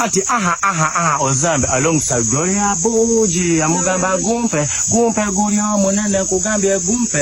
ati aha aha aha ozambe alongside gloria buji amugamba gumpe gumpe guli omunene kugambye gumpe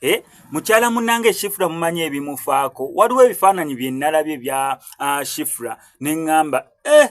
Eh, mukyala munange shifra mumanyi ebimufaako waliwo ebifaananyi byenalabye bya uh, shifra neŋŋamba eh,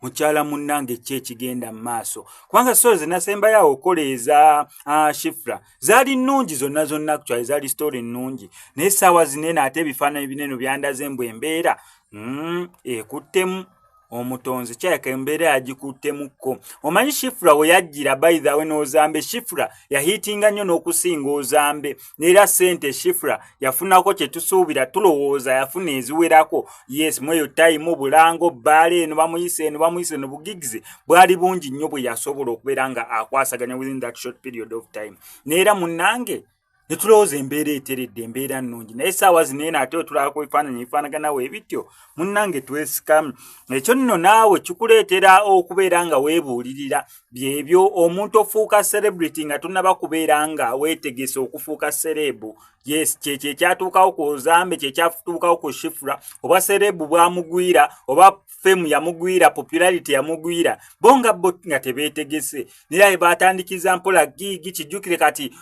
mukyala munange ki ekigenda mu maaso kubanga sitore zenasembayoawo okola eza uh, shifra zaali nnungi zonna zonna kukyali zaali sitore nnungi naye saawa zinene ate ebifaananyi bineno byandaze mbu embeera mm, ekuttemu eh, omutonzi kyayaka embeera yagikuttemukko omanyi shifura we yajjira baithawe n'ozambe shifura yahiitinga nnyo n'okusinga ozambe neera ssente shifura yafunako kye tusuubira tulowooza yafuna eziwerako yes mweyo tayimu bulango bbaala eno bamuyisa eno bamuyisa eno bugigizi bwali bungi nnyo bwe yasobola okubeera nga akwasaganya within that short period of time neera munnange ne tulowooza embeera eteredde embeera nnungi naye saawa zineeno ate wetulabako ebifaananyi ebifaanaganawo ebityo munnange twesikamu ekyo nno naawe kikuleetera okubeera nga weebuulirira byebyo omuntu ofuuka celebrity nga tonaba kubeera nga weetegese okufuuka sereebu yes kyekyo ekyatuukawo ku ozambe kyekyatuukawo ku shifura oba sereebu bwamugwira oba fame yamugwira popularity yamugwira bo nga bo nga tebeetegese naye aye baatandikiza mpola giigi kijjukire kati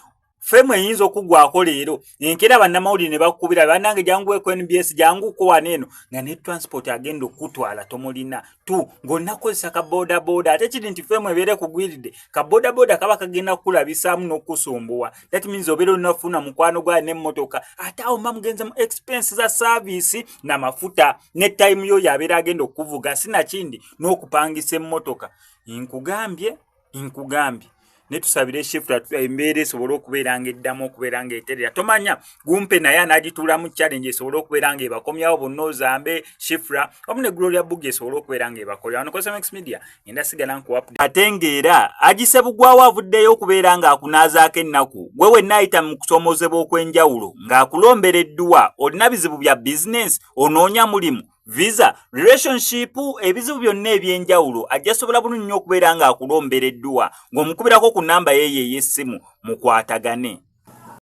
fame eyinza okugwako leero enkeera bannamawulire ne bakukubira bannange jangu eku nbs jangu kuwana eno nga ne transport agenda okukutwala tomulina tu ng'onakozesa ka bodaboda ate kiri nti fame ebeere kugwiridde ka bodaboda kaba kagenda kukulabisaamu n'okukusumbuwa that means obeera onafuna mukwano gwayo nemotoka ate awo mba mugenza mu expense za service na mafuta ne time yo yabeera agenda okuvuga sinakindi n'okupangisa emmotoka nkugambye nkugambye netusabire shift embeera esobole okubeera nga eddamu okubeera nga eterera tomanya gumpe naye anagituulamu challenge esobole okubeera nga ebakomyawo bonna ozambe shifra wamu ne gloria bugi esobole okubeera nga ebakolera wano cosmex media ngenda sigala nkuwapde ate ng'era agise bugwawo avuddeyo okubeera ng'akunaazaako ennaku gwe wenna ayita mu kusoomozebwa okw'enjawulo ng'akulombera edduwa olina bizibu bya bizinensi onoonya mulimu visa relationship ebizibu byonna eby'enjawulo ajja sobola bunu nnyo okubeera ng'akulombera edduwa ng'omukubirako ku nnamba yeeyo ey'essimu mukwatagane